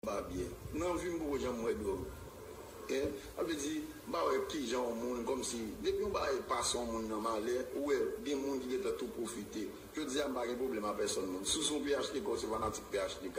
pa byen nan vim poko janm wè dwòg hein sa vle di m pa wè kijan yon moun kòmsi depi yon bagay pa son moun nan malè ou wè gen moun ki gentan tou pwofite jodi a m pa gen pwoblèm a pèsòn moun si w se yon phtk ou se fanatik phtk.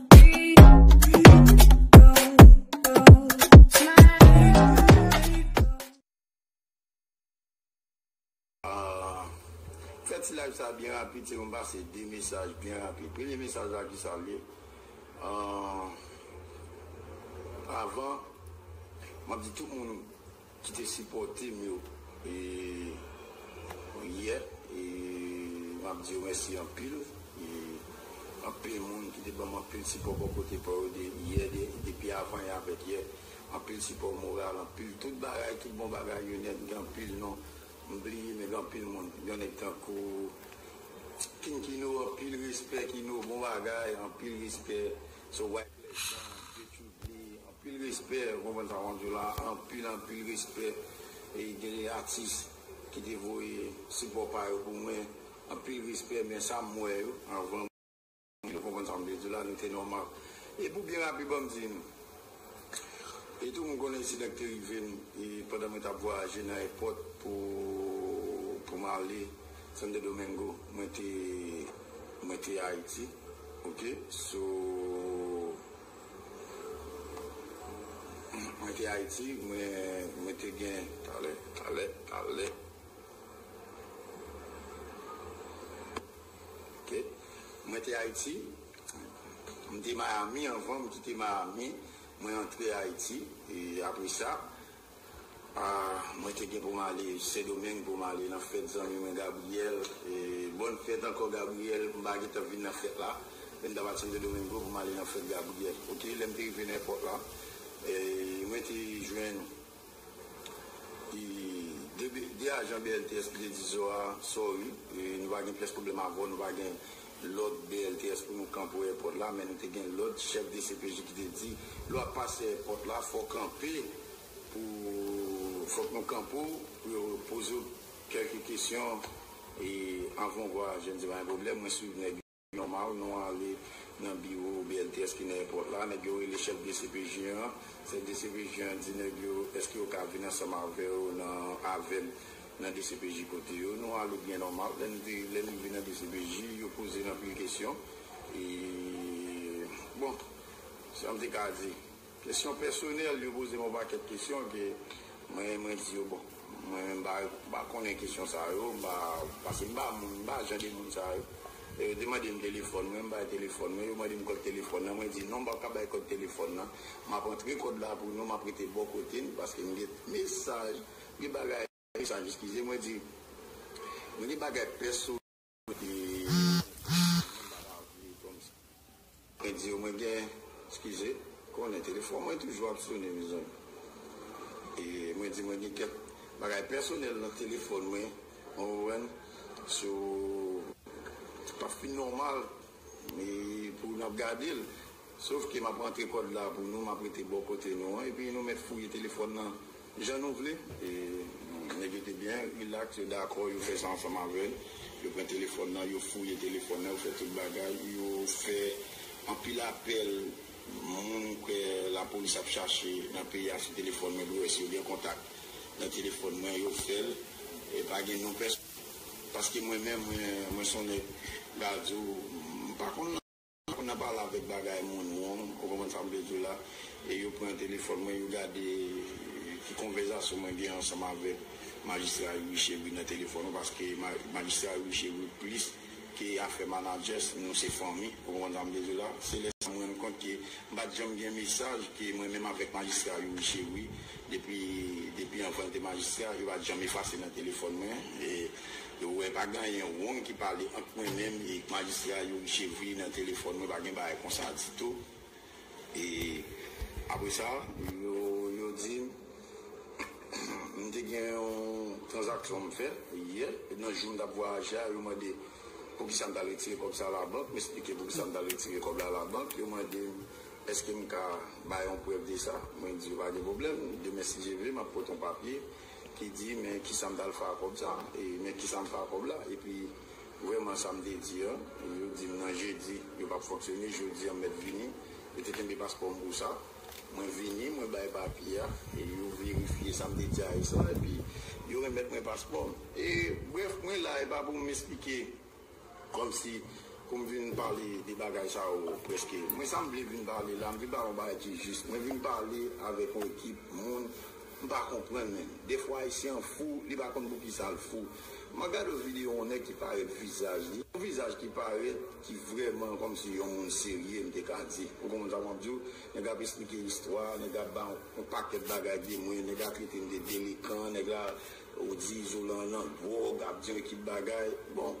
Fè ti live sa byen rapid se pou m pase 2 mesaj byen rapid. Premye mesaj la ki sa l ye? Avan, m ap di tout moun. ki te sipòte m yo yè e m ap di yo mèsi anpil e anpil moun ki te ban m anpil sipò bò kote pa yo de yè depi avan e avèk yè anpil sipò moral anpil tout bagay tout bon bagay yo nèt gen anpil non m bliye men gen anpil moun yon nèg tankou King Kino anpil respè Kino bon bagay anpil respè so. Prezidan yo tou vle anpil respè ou konprann sa map diw la anpil anpil respè e gen de atis ki te voye sipò pa yo pou mwen anpil respè men sa m wè yo avan mwen ou konprann sa m vle diw la nou te nòmal e pou byen rapid banm di nou e tou mwen konnen ensidan ki te rive m e pandan mwen tap vwayaje nan èpòt pou pou m ale Santo Domingo mwen te mwen te Ayiti. Ok so mwen te ayiti mwen te gen. Talè talè talè ok mwen te ayiti mte miami anvan mkite miami mwen antre ayiti apresa Ahh mwen te gen pou m ale sendomeng pou m ale nan fèt zanmi mwen Gabriel bòn fèt ankò Gabriel m pa gentan vin nan fèt la men m t ap al santo domingo pou m ale nan fèt Gabriel ok lè m te rive nan èpòt la mwen te jwenn 2 ajan BLTS ki te di zo a sorry nou pa gen pyès pwoblèm avè w nou pa gen lòd BLTS pou nou kanpe èpòt la men nou te gen lòd chèf dcpj ki te di lè wap pase èpòt la fòw kanpe pou fòk nou kanpe w pou yo poze w kèlke kesyon e anvan w vwayaje mdi pa gen pwoblèm mwen swiv nèg yo nòmal nou ale nan biwo BLTS ki nan èpòt la nèg yo rele chèf dcpj an chèf dcpj an di nèg yo èske yo ka vin ansanm avèw nan avèm nan dcpj kote yo nou ale byen nòmal lè nou te lè nou rive nan dcpj yo poze n anpil kesyon e bon sa m te ka di kesyon pèsonèl yo poze m yon pakèt kesyon ke mwen mwen di yo bon mwen menm m pa m pa konnen kesyon sa yo m pa pase m pa moun m pa jan de moun sa yo lè yo te mande m telefòn mwen m bay telefòn mwen yo mande m kòd telefòn nan mwen di non m p ap ka bay kòd telefòn nan m ap antre kòd la pou nou m ap rete bò kote n paske m gen mesaj Gen bagay sa jis kize mwen di mwen gen bagay pès sou li ki mwen pa ta vle kòm sa mwen di yo mwen gen skize konnen telefòn mwen toujou ap sone mezanmi e mwen di mwen gen kèk bagay pèsonèl nan telefòn mwen ou konprann so pap fin nòmal e pou nap gade l sof ke map antre kòd la pou nou map rete bò kote nou an epi nou mèt fouye telefòn nan Jan nou vle. Nèg yo te byen rilaks, yo dakò, yo fè sa ansanm avè l. Yo pran telefòn nan, yo fouye telefòn nan, yo fè tout bagay. Yo fè anpil apèl moun ke lapolis ap chache nan peyi a sou telefòn mwen dwe wè si yo gen kontak nan telefòn mwen. Yo fè l e pa gen non pèsonn paske mwen menm mwen son nèg radyo, m pa konn. Apre nan pale avèk bagay moun wong, ou konprann sa m vle di w la, e yo pran telefòn mwen, yo gade ki konvèzasyon mwen gen ansanm avèk Majistra Youri Chery nan telefòn an, paske Majistra Youri Chery plis ke afè manadjès, nou se fanmi, ou konprann sa m vle di w la. Se lè sa m rann kont ke m pa t janm gen mesaj ke mwen menm avèk Majistra Youri Chery, depi anvan l te Majistra, yo pa t janm efase nan telefòn mwen. Yo wè pa ganyen wong ki pale ant mwen menm e majistra Youri Chevry nan telefòn mwen pa gen bagay konsa ditou e apre sa. Yo di m m te gen yon tranzaksyon m fè yè e nan jou m t ap vwayaje a yo mande poukisa m t al retire kòb sa labank m esplike poukisa m t al retire kòb la labank yo mande m èske m ka bay yon prèv de sa mwen di yo pa gen pwoblèm demen si Dye vle m ap pote yon papye ki di men kisa m tal fè ak kòb sa e men kisa m fè ak kòb la epi vrèman sa m te di an yo di m nan jedi yo pap fonksyone jodi an m mèt vini yo te kenbe paspò m pou sa mwen vini mwen bay papye a e yo verifye sa m te di AS la epi yo remèt mwen paspò m e brèf mwen la e pa pou m esplike Kòmsi pou m vin pale de bagay sa yo prèske? Mwen sa m vle vin pale la, m vin pale yon bagay ki jis. Mwen vin pale avèk yon ekip moun m pa konprann menm. Dèfwa Ayisyen an fou, li pa konn poukisa l fou. Mwen gade yon videyo yon nèg ki parèt vizaj li, yon vizaj ki parèt ki vrèman kòmsi yon moun serye m te ka di. Ou konprann sa mwen ap di w? Nèg la ap esplike istwa, nèg la ap bay yon pakèt bagay de mwen, nèg la trete m de delekan, nèg la. Ou di Zolan nan dwòg ap dire ki bagay bon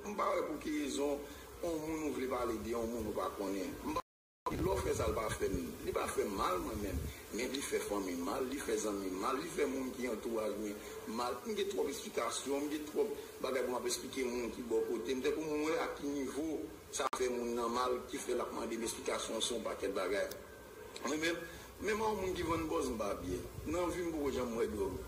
m pa wè pouki rezon on moun ou vle pale de on moun ou pa konnen m pa di lò fè sa l pa fè m li pa fè m mal mwen menm men li fè fanmi m mal li fè zanmi m mal li fè moun ki antouraj mwen mal m gen twòp esplikasyon m gen twòp bagay pou m ap esplike moun ki bò kote m te pou m wè a ki nivo sa fè moun nan mal ki fè l ap mande m esplikasyon sou on pakèt bagay. Mwen menm, menm an yon moun ki vann bòz m pa byen. Nan vi m m poko janm wè dwòg.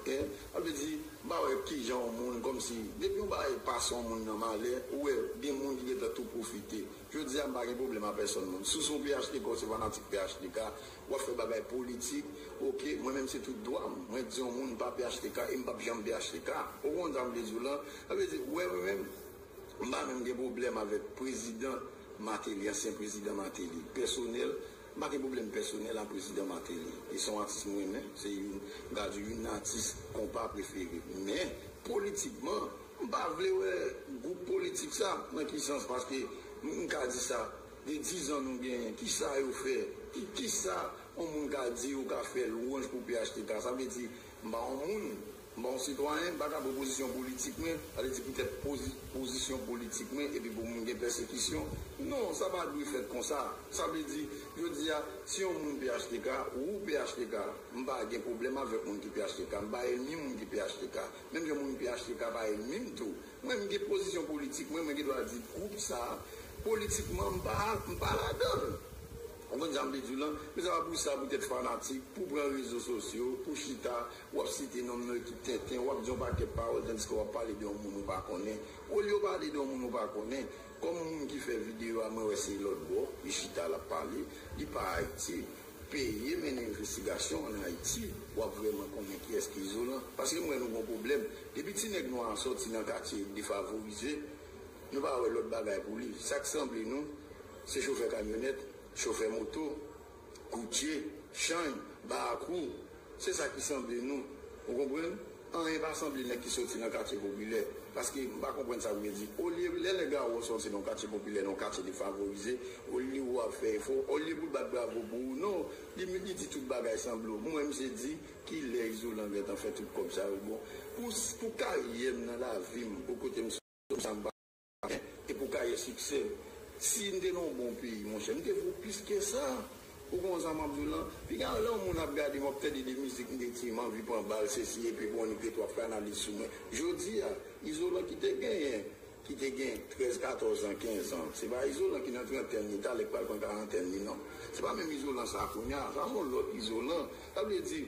Hein? Sa vle di, m pa wè kijan yon moun, kòm si, depi yon bagay pase yon moun nan malè, ou wè gen moun ki gentan tou pwofite. Jodi a m pa gen pwoblèm a pèsòn moun. Si w se yon phtk ou se fanatik phtk, w ap fè bagay politik, ok, mwen menm se tout dwa m. Mwen di yon moun m pa phtk e m p ap janm phtk. Ou konprann sa m vle di w lan? Sa vle di, ou wè mwen menm? M pa menm gen pwoblèm avèk prezidan Martelly, ansyen prezidan Martelly, pèsonèl, m pa gen pwoblèm pèsonèl a prezidan Martelly. Li se yon atis m renmen, se youn, m ka di youn nan atis konpa prefere m. Men, politikman, m pa vle wè gwoup politik sa, nan ki sans, paske m ka di sa, gen dizan nou genyen, ki sa yo fè, ki, ki sa yon moun ka di yo ka fè lwanj pou phtk, sa vle di, m pa yon moun. Bon sitwayen, m pa ka pou pozisyon politik mwen, sa vle di poutèt pozisyon politik mwen epi pou m gen pèsekisyon. Non, sa pa dwe fèt konsa. Sa vle di, jodi a, si yon moun phtk, wou phtk, m pa gen pwoblèm avèk moun ki phtk, m pa ènmi moun ki phtk. Menm jan moun phtk pa ènmi m tou. Mwen, m gen pozisyon politik mwen, mwen gen dwa di gwoup sa a, politikman, m pa m pa ladan l. Konprann sa m vle di w lan? Men sa pa pou sa poutèt fanatik, pou pran rezo sosyo, pou chita, Wap site nom nan ki tenten, wap di yon pakèt pawòl tandiske wap pale de yon moun ou pa konnen. Olye w pale de yon moun ou pa konnen, kòm moun ki fè videyo a mwen wè se lòtbò li chita lap pale, li pa Ayiti. Peye mennen envestigasyon an Ayiti, wap vrèman konnen kiyès ki izolan. Paske m wè nou gon pwoblèm. Depi ti nèg nwa a sòti nan katye defavorize, nou pa wè lòt bagay pou li. Sak sanble nou, se chofè kamyonèt, chofè moto, Koutye, chany, barakwou, se sa ki sanble nou. Ou konprann? Anyen pa sanble nèg ki soti nan katye popilè. Paske, m pa konprann sa l vle di. Olye, lè nèg la wè w soti nan yon katye popilè, nan yon katye defavorize, olye ou ap fè efò, olye pou l bat bravo pou ou, non! Li m, li di tout bagay sanble w. M wè misye di, Ki lè Izolan gen tan fè tout kòb sa yo? Bon, pou, pou karyè m nan lavi m, pou kote m soti, pou sa m pa. Amen e pou kaye siksè m. Sim te nan yon bon peyi monchè m te vo plis ke sa ou konn sa map diw lan piga lè yon moun ap gadem wap tande de mizik m te di m anvi pran bal sesi epi bon nèg te twòp fanalis sou mwen jodia izolan ki te genyen ki te gen 13 14 ans 15 ans se pa izolan ki nan trantèn li talè ki pral pran karantèn li nan se pa menm izolan sa kounya sa son lòt izolan sa vle di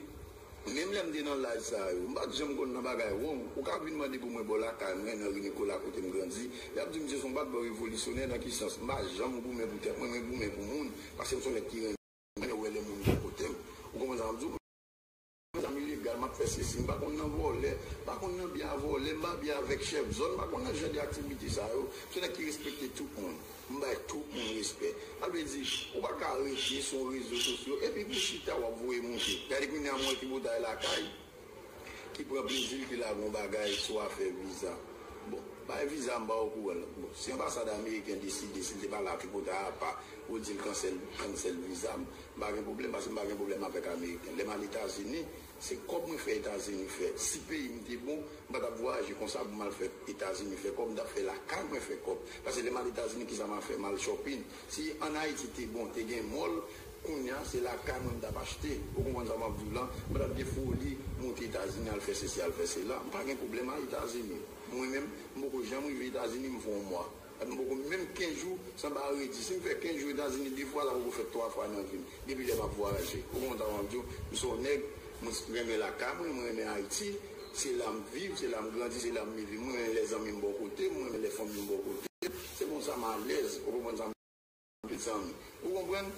Menm lè m te nan laj sa yo, m pa t janm konn nan bagay wong. Ou ka vin mande pou mwen bò lakay mwen, nan Ri Nikola kote m grandi, y ap di m se son bat bò revolisyonè. Nan ki sans? M pa janm goumen pou tèt mwen, mwen goumen pou moun, paske m son nèg ki renmen wè lè moun gen kote m. Ou konprann sa m di w? M gen zam ilegal, m ap fè sesi. M pa konn nan vòlè, m pa konn nan bi a vòlè, m pa bi avèk chèf zòn, m pa konn nan jan de aktivite sa yo. M son nèg ki respekte tout moun. M bay tout moun respè. Sa vle di ou pa ka reje sou rezo sosyo epi pou chita wap voye moute. Gade kounya m wè tripotay lakay ki pran plezil ki lage yon bagay sou afè viza. Bon bay viza m pa okouran non. Bon si anbasad ameriken deside si l te pa la tripotay apa pou l di l kansèl viza m, m pa gen pwoblèm paske m pa gen pwoblèm avèk ameriken. Lè m al etazini Se kob mwen fè etazini fè si peyim te bon mpa tap vwayaje konsa pou mal fè etazini fè kob mtap fè lakay mwen fè kob pase lèm al etazini kisa ma fè mal chòpin si an ayiti te bon te gen mòl kounya se lakay mwen mtap achte ou konprann sa map diw lan mpa tap gen foli moute etazini al fè sesi al fè sela mpa gen pwoblèm a etazini mwen menm mpoko janm rive etazini mfè yon mwa Sa nou poko menm 15 jou san pa redi. Si m fè 15 jou Etazini 2 fwa la poko fèt 3 fwa nan vi m. Depi lè m ap vwayaje. Ou konn sa m ap di w? M se yon nèg, m renmen lakay mwen, m renmen Ayiti. Se la m viv, se la m grandi, se la m leve. M renmen lè zanmi m bò kote m, m renmen lè fanmi m bò kote m. Se konsa m alèz. Ou konprann sa m. Mezanmi. Ou konprann?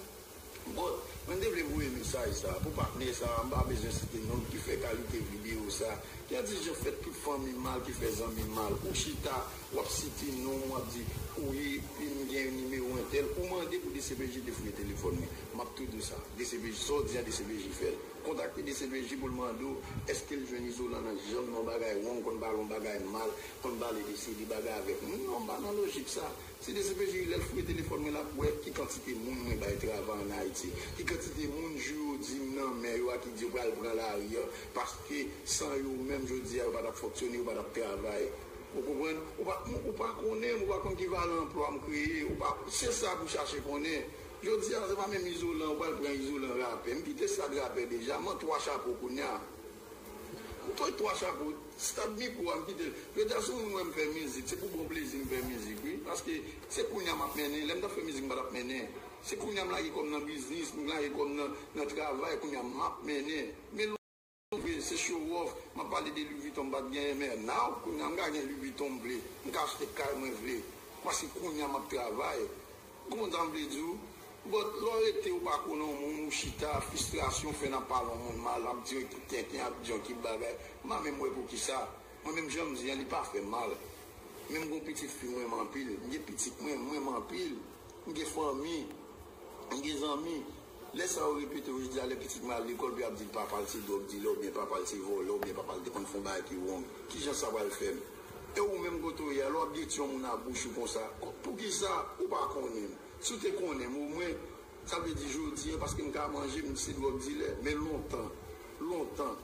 But, mwen te vle voye mesaj sa a pou patnè sa a, m pa bezwen site non l ki fè kalite videyo sa a. Gen di je fè tout fanmi mal ki fè zanmi mal. Ou chita, w ap site non m, w ap di, ou ye, epi m gen nimewo entèl. Ou mande pou dcpj te fouye telefòn li. M ap tou di w sa. Dcpj, sa w di a dcpj fè l. Kontakte dcpj pou l mande w èske l jwenn Izolan nan janm nan w bagay wrong, konn pale yon bagay mal, konn pale de seri de bagay avèk m. Non, m pa nan lojik sa. Se dcpj wi lèl fouye telefòn mwen lap wè ki kantite moun mwen bay travay an ayiti ki kantite moun jou yo dim nan men yo a ki di yo pral pran lari an paske san yo menm jodi a yo patap fonktyone yo patap travay ou konprann ou pa ou pa konnen ou pa konn ki valè anplwa m kreye ou pa se sa pou chache konnen jodi a se pa menm izolan ou pral pran izolan rapè m kite stad rapè deja man 3 chapo kounya. Ou pran 3 chapo, stad mikro a m kite l. Preeta si w vin wè m fè mizik, se pou bon plezi m fè mizik wi. Paske se kounye a m ap mennen, lè m t ap fè mizik m pa t ap mennen. Se kounye a m lage kò m nan biznis, m lage kò m nan travay, kounye a m ap mennen. Men lwen rive, se show off, m ap pale de Louis Vuitton m pa t genyen men now kounye a m ka gen Louis Vuitton m vle, m ka achte kay mwen vle. Paske kounye a m ap travay. Kontan vle di w But lè w rete w pa konnen yon moun ou chita fistrasyon fè nan pale yon moun mal ap di yon ekip tenten ap di yon ekip bagay m pa menm wè poukisa mwen menm jan m di an li pa fè m mal men m gen yon pitit fi m renmen anpil m gen pitit mwen m renmen anpil m gen fanmi m gen zanmi Lè sa yo repete yo jodi a lè pitit mwen al lekòl pou y ap di l papa l se dwòg dilè oubyen papa l se vòlè oubyen papa l te konn fè yon bagay ki wrong. Ki jan sa pral fè m? E ou menm kote ou ye a lè w ap gete yon moun ak bouch ou konsa? Pou ki sa ou pa konnen m? Si w te konnen m o mwen sa vle di jodi an paske m ka manje m se dwòg dilè men lontan lontan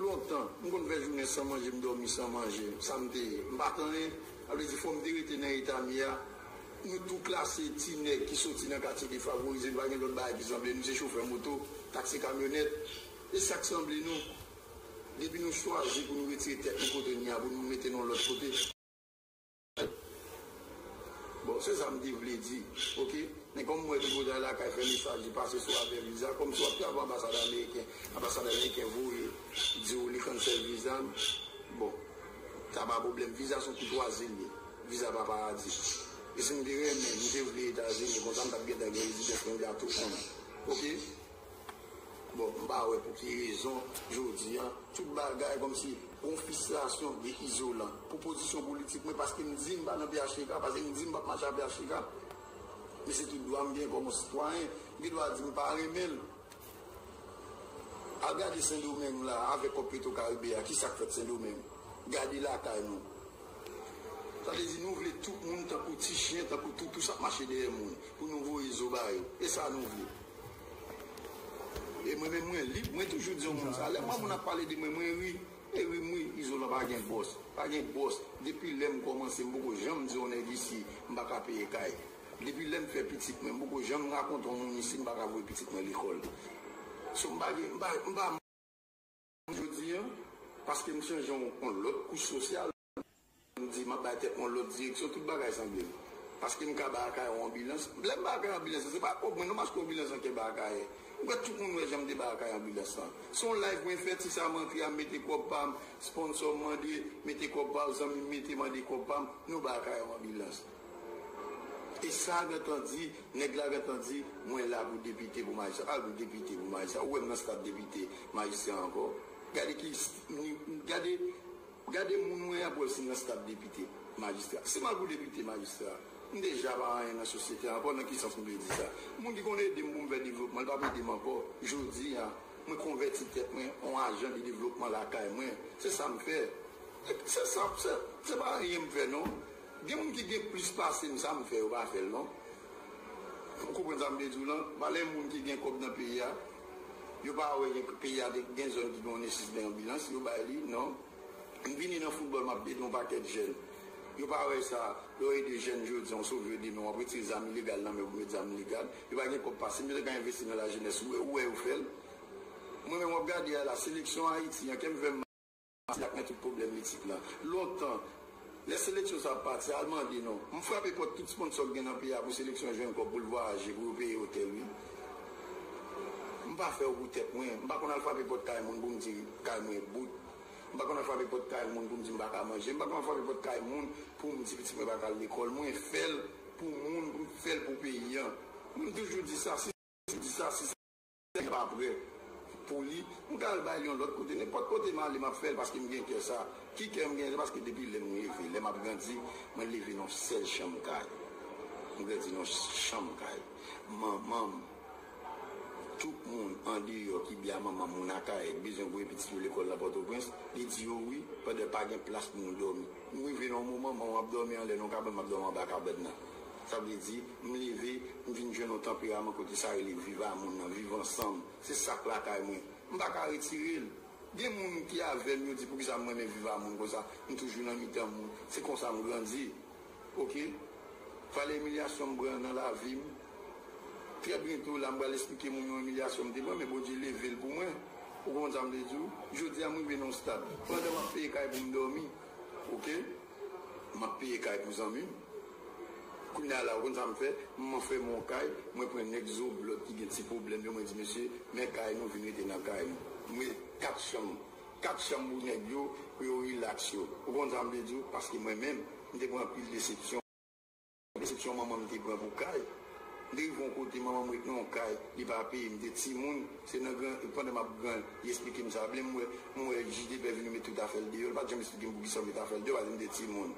lontan m konn fè jounen san manje m dòmi san manje sa m te ye m pa t anyen sa vle di fò m te rete nan eta m ye a Yo tou klase ti nèg ki soti nan katye defavorize, nou pa gen lòt bagay ki sanble nou, se chofè moto, taksi kamyonèt, e sa k sanble nou. Depi nou chwazi pou nou retire tèt nou kote n ye a pou nou mete nou lòt kote. Bon, se sa m te vle di. Oke. Men kòm m wè tripotay lakay fè mesaj li pase sou afè viza, kòm si w ap travay anbasad ameriken, anbasad ameriken voye di w li kansèl viza m, bon, sa pa pwoblèm. Viza s on koutwazi l ye. Viza pa paradis. E sim te renmen, m te vle etazini konsa m tap gentan gen rezidans mwen ta tou konn. Ok. Bon m pa wè pou ki rezon jodi an tout bagay komsi gon fristrasyon de izolan pou pozisyon politik mwen paske m di m pa nan phtk paske m di m pap mache a phtk. Men se tout dwa m gen kom on sitwayen. M gen dwa di m pa renmen l. Al gade sendomeng la avek kòb petro karibe a kisa k fèt sendomeng. Gade lakay nou. Sa vle di nou vle tout moun tankou ti chyen, tankou toutou sa mache dèyè moun pou nou voye zo ba yo. E sa nou vle. E mwen menm mwen lib, mwen toujou di yon moun sa. Lè m wè moun ap pale de mwen, mwen ri. E ri m ri. Izolan pa gen bòs. Pa gen bòs. Depi lè m kòmanse, m poko janm di yon nèg isi m pa ka peye kay. Depi lè m fè pitit mwen, m poko janm rakonte yon moun isi m pa ka voye pitit mwen lekòl. So m pa gen, m pa. Jodi an, paske m chanje yon lòt kouch sosyal, m di m ap bay tèt mwen yon lòt direksyon, tout bagay sanble m. Paske m ka bay Akayè yon anbilans. Lè m bay Akayè anbilans lan, se pa akòz mwen non, paske anbilans lan te bay Akayè. M kwè tout moun wè jan m te bay Akayè anbilans lan. Se yon live mwen fè, ti sa m antre a, m mete kòb pa m, sponsò m mande, mete kòb pa w, zanmi m mete, mande kòb pa m, nou bay Akayè yon anbilans. E sa gentan di, nèg la gentan di, mwen la pou depite pou majistra. Pale pou depite pou majistra. Ou wè m nan staf depite, majistra ankò? Gade ki ni, gade, gade moun mwen ap wè si m nan staf depite, majistra. Si m al pou depite, majistra, m deja pa anyen nan sosyete a ankò. Nan ki sans m vle di sa? Moun ki konn ede m pou m fè devlopman, li pa p ede m ankò. Jodi a, mwen konvèti tèt mwen an ajan de devlopman lakay mwen. Se sa m fè. Se sa, se pa anyen m fè non. Gen moun ki gen plis pasem sa m fè yo pa fèl non ou konprann sa m vle diw lan valè moun ki gen kòb nan peyi a yo pa wè gen peyi a gen zòn ki gen yon nesis de anbilans yo bay li non m vini nan foutbòl map ede yon pakèt jèn yo pa wè sa lè w ede jèn jodi w sove yo demen wap retire zam ilegal nan men yo pou met zam legal yo pa gen kòb pasem yo ta ka envesti nan la jenès ou wè yo fèl mwen menm wap gade a la seleksyon ayiti an kèm fèm Pati ak men tout pwoblèm litik la. Lontan, lè seleksyon sa ap pati, al mande non. M frape pòt tout sponsò k gen nan peyi a pou seleksyon jwenn kòb pou l vwayaje, pou yo peye otèl wi. M pa fè yo pou tèt mwen. M pa konn al frape pòt kay moun pou m di kay mwen bout. M pa konn al frape pòt kay moun pou m di m pa ka manje. M pa konn al frape pòt kay moun pou m di pitit mwen pa ka al lekòl. Mwen fè l pou moun, m fè l pou peyi an. M toujou di sa, si sa, si sa. Lè pa prè pou li, m ka al bay li yon lòt kote. Nenpòt kote m ale, m ap fè l paske m gen kè sa. Ki kè m gen? Se paske depi lè m leve, lè m ap grandi, mwen leve nan yon sèl chanm kay. M grandi nan yon chanm kay. Manman m, tout moun andeyò ki bya manman m, moun Akayè, ki bezwen voye pitit yo lekòl nan Pòtoprens, li di yo wi, pandan pa gen plas pou moun dòmi. M rive nan yon moman, manman m ap dòmi anlè nan yon kabann, m ap dòmi anba kabann nan. Sa vle di, m leve, m vin jwenn yon tanperaman kote sa rele viv a moun nan, viv ansanm. Se sa k lakay mwen. M pa ka retire l. Gen moun ki avè m, yo di poukisa m renmen viv a moun konsa. M toujou nan mitan moun. Se konsa m grandi. Ok. Pale imilyasyon m pran nan lavi m. Trè byento la, m pral esplike moun yon imilyasyon m te pran, men Bondye leve l pou mwen. Ou konprann sa m vle di w? Jodi a, m rive nan yon stad. Pandan m ap peye kay pou m dòmi. Ok. Map peye kay pou zanmim kounya la ou konn sam fè m anfèm on kay mwen pran nèg zo blòd ki gen ti pwoblèm yo mwen di mesye men kay nou vin rete nan kay nou m mete 4 chanm 4 chanm pou nèg yo pou yo relax yo ou konn sam te diw paske mwen menm m te pran anpil desepsyon. Desepsyon manman m te pran pou kay. M te rive yon kote, manman m ret nan yon kay, li pa peye, m te timoun, se nan gran, pandan m ap gran, li esplike m sa. Blèm wè, m wè Jidebè vini met tout afè l deyò, li pa t janm esplike m poukisa yo met afè l deyò, paske m te timoun.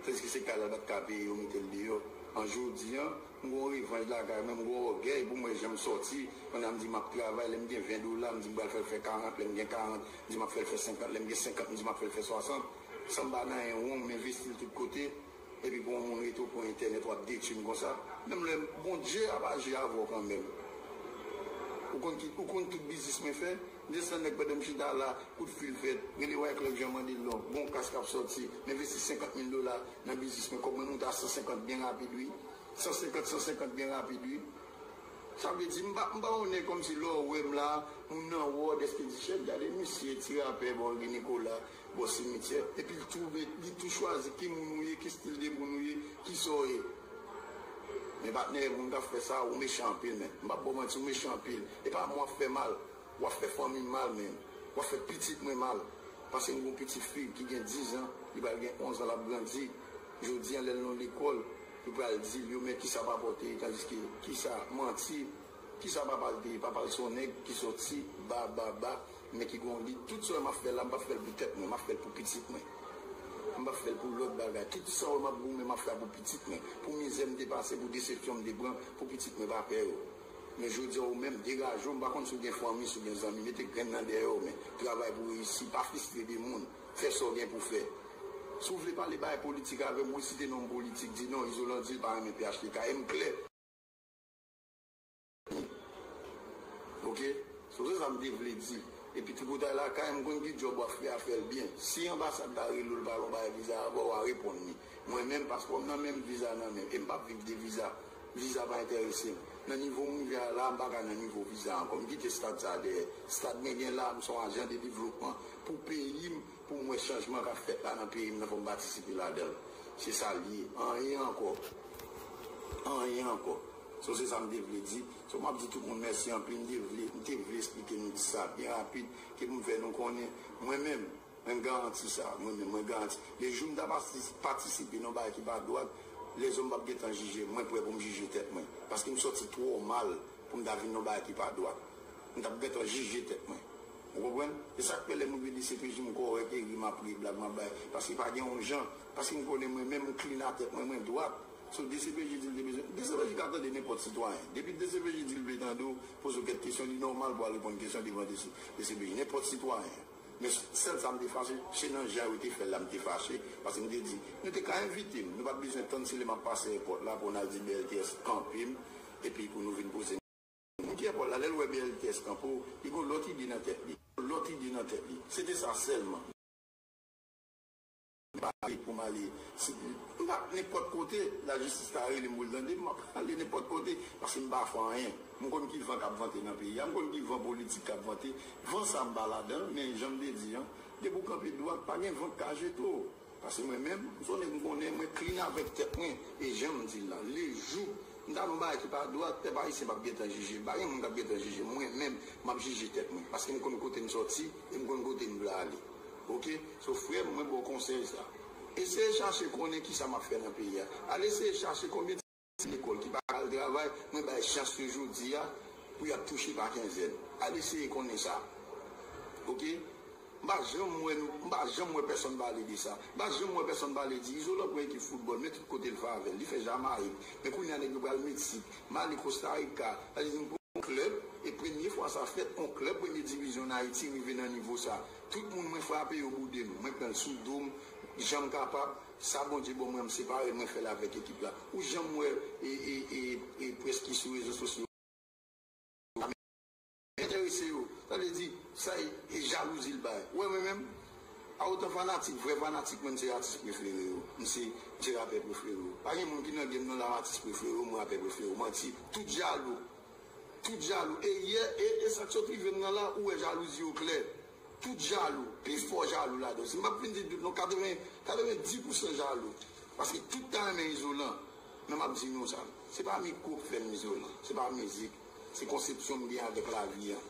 Tandiske se kay la, l pa t ka peye, yo mete l deyò. An jodi an, m gen yon revanj lakay mwen, m gen yon ògèy pou m wè jan m sòti, pandan m di m ap travay, lè m gen 20 dola, m di m pral fè l fè 40, lè m gen 40, m di m ap fè l fè 50, lè m gen 50, m di m ap fè l fè 60. San m pa nan 1 won, m envesti l tout kote. Depi pou yon moun rete ou pran entènèt wap detwim konsa menm lè Bondye ap aji avèw kanmenm ou konn ki ou konn tout biznis mwen fè desann nèg pandanm chita la kout fil fèt rele wyclef jean mandel non bon kas kap sòti m envesti 50 mil dola nan biznis mwen kòb mwen moute a 150 byen rapid wi 150 150 byen rapid wi sa vle di m pa m pa yon nèg kòmsi lèw wèm la moun nan wòd èske di chèf gade misye ti rapè bò wi nikola. bò simityè, epi l twoube, li tou chwazi ki moun ou ye, ki stil de moun ou ye, ki sa w ye. Men patnè, moun k ap fè sa a, ou mechan anpil menn. M p ap ba w manti, ou mechan anpil. E pa m w ap fè mal, w ap fè fanmi m mal menn. W ap fè pitit mwen mal. Pase m gen yon pitit fi ki gen dizan, li pral gen onzan, l ap grandi. Jodi a, lè l nan lekòl, yo pral di l, yo men ki sa papa w te ye, tandiske ki sa, manti. Kisa papa l te ye? Papa l se yon nèg ki sòti ba ba ba men ki gen yon lit. Tout sa m ap fè la, m pa fè l pou tèt mwen, m ap fè l pou pitit mwen. M pa fè l pou lòt bagay. Tout sa w wè m ap goumen, m ap fè a pou pitit mwen, pou mizè m te pase, pou desepsyon m te pran, pou pitit mwen pa pè yo. Men jodi a ou menm, degaje w, m pa konn si w gen fanmi, si w gen zanmi, mete grenn nan dèyè w men travay pou reyisi, pa fistre de moun, fè sa w gen pou fè. Si w vle pale bagay politik avè m, ou site non m politik, di non, Izolan di l pa renmen phtk e m klè. Li. Ok So se sa m te vle di. Epi tripotay lakay m konn ki djòb wap fè a fèl byen. Si anbasad la rele w l pa vle w bay viza a ba w wa reponn li. Mwen menm paspò m nan men m viza nan men m e m pap viv de viza. Viza pa enterese m. Nan nivo m rive a la a m paka nan nivo viza ankò. M kite stad sa a dèyè. Stad mwen gen la a m son ajan de devlopman pou peyi m. Poum wè chanjman kap fèt la nan peyim nan fòm patisipe ladanl se sal ye anyen ankò anyen ankò so se sam te vle di so map di tout moun mèsi anpil m te vle m te vle esplike nou di sa byen rapid ki poum fè nou konnen mwen menm menm garanti sa mwen menm mwen garanti le joum ta patisipe nan bagay ki pa dwat lèzòm pap gentan jije mwen prè poum jije tèt mwen paske m sòti twò mal poum ta vin nan bagay ki pa dwat m tap gentan jije tèt mwen. Ou konprann? Se sa k fè lè moun vin di se toujou m kòrèk e ri m ap ri, blag m ap bay. Paske pa gen yon jan. Paske m konnen mwen menm m klin atè pwen mwen dwat. So dcpj di l te bezwen. Dcpj ka tande nenpòt sitwayen. Depi dcpj di l vle tande w, poze w kèk kesyon, li nòmal pou w al reponn kesyon devan dcpj. Nenpòt sitwayen. Men sèl sa m te fache, se nan jan yo te fè l la m te fache. Paske m te di, nou te ka envite m. Nou pa t bezwen tann se lè m ap pase èpòt la pou n al di BLTS kanpe m epi pou nou vin poze m. Moun Pyè Pòl la, lè l wè bèl tès Kanpo, li gen yon lòt ide nan tèt li. Yon lòt ide nan tèt li. Se te sa sèlman. M pa ale pou m ale si m pa t nenpòt kote, lajistis ta rele m pou l tande m, m ap ale nenpòt kote paske m pa fè anyen. M konn ki van k ap vante nan peyi a, m konn ki van politik k ap vante. Van sa m pa ladan l, men jan m te di an, depi w kanpe dwat, pa gen van k ka jete w. Pase mwen menm, son nèg m konnen, mwen klin avèk tèt mwen, e jan m di l lan, le jou m ta fè yon bagay ki pa dwat, pèp ayisyen p ap gen tan jije m, pa gen moun k ap gen tan jije m, mwen menm m ap jije tèt mwen, paske m konn kote m sòti e m konn kote m vle ale. Ok, so frè m mwen ba w konsèy sa, eseye chache konnen kisa m ap fè nan peyi a, al eseye chache konbyen ti. Ti lekòl ki pa al travay, mwen bay chans yo jodi a pou y ap touche pa kenzèn. Al eseye konnen sa. Ok. M pa janm wè nou, m pa janm wè pèsonn pale de sa. M pa janm wè pèsonn pale di Izolan pran ekip foutbòl, men tout kote l favè l. Li fè Jamayik, men kounye a nèg yo pral Meksik, Mali, Kostarika. Sa vle di m pran yon klèb, e premye fwa sa fèt, yon klèb premye divizyon ann Ayiti rive nan nivo sa. Tout moun mwen frape yo boude m. Mwen pran l sou do m, jan m kapab. Sa Bondye bon mwen m separe mwen fèl avèk ekip la ou janm wè e près ki sou rezo sosyo a men entèrese yo sa vle di sa e jalouzi l bay wè mwen menm a otan fanatik vrè fanatik mwen m se atis prefere yo m se m se rapè prefere yo pa gen moun ki nan game nan la m atis prefere yo m rapè prefere yo manti tout jalou tout jalou e yè e e sak sot rive m nan la ou wè jalouzi yo klè. Tout jalou, pi fò jalou la dan. Si m pa fin di tout non, 80, 90 pou san jalou. Paske tout ta renmen izolan. Men m ap di nou sa, se pa mikwo k fè m izolan, se pa mizik, se konsepsyon m gen avèk lavi an.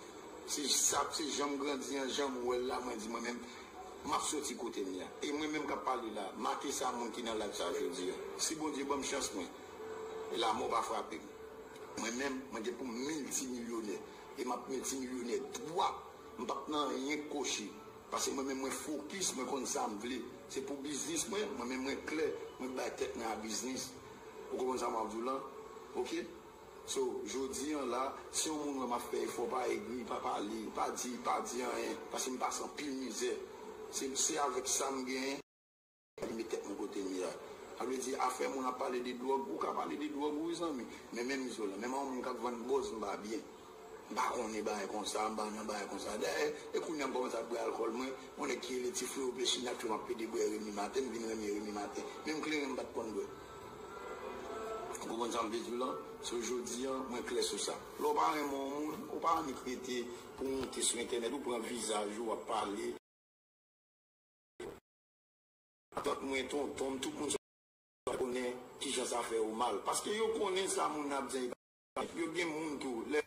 Se sa, se jan m grandi an, jan m wè l la, mwen di mwen menm, m ap soti kote m ye a. E mwen menm k ap pale la, make sa moun ki nan live sa jodi an. Si Bondye ban m chans mwen, e lamò pa frape m, mwen menm, mwen gen pou m miltimilyonè. E m ap miltimilyonè dwa. M pap nan anyen kochi. Pase mwen menm mwen fokis mwen konn sam vle se pou biznis mwen mwen menm mwen klè mwen k bay tèt mwen a biznis ou konprann sa map diw lan ok so jodi an la si yon moun wè map fè efò pa egri pa pale pa di pa di anyen pase m pase anpil mizè se se avèk sam genyen Mwen met tèt mwen kotem ye a. Sa vle di afè moun ap pale de dwòg, ou ka pale de dwòg wi zanmi, men menm izolan, menm a yon moun kap vann bòz m pa byen. M pa konnen bagay konsa, m pa nan bagay konsa. Dayè, e kounya m kòmanse ap bwè alkòl mwen, yon nèg ki rele ti freo vle chini ak frem ap plede bwè Remy Martin, m vin renmen Remy Martin. Menm kleren m pat konn bwè. Ou konprann sa m vle di w lan? So jodi an, mwen klè sou sa. Lè w pa renmen yon moun, ou pa annik rete pou w monte sou entènèt, ou pran vizaj ou, w ap pale. Tant mwen, tonton m, tout moun sa yo konnen kijan sa fè yo mal. Paske yo konnen sa moun nan ap di an e pa vre. Yo gen moun tou, lè.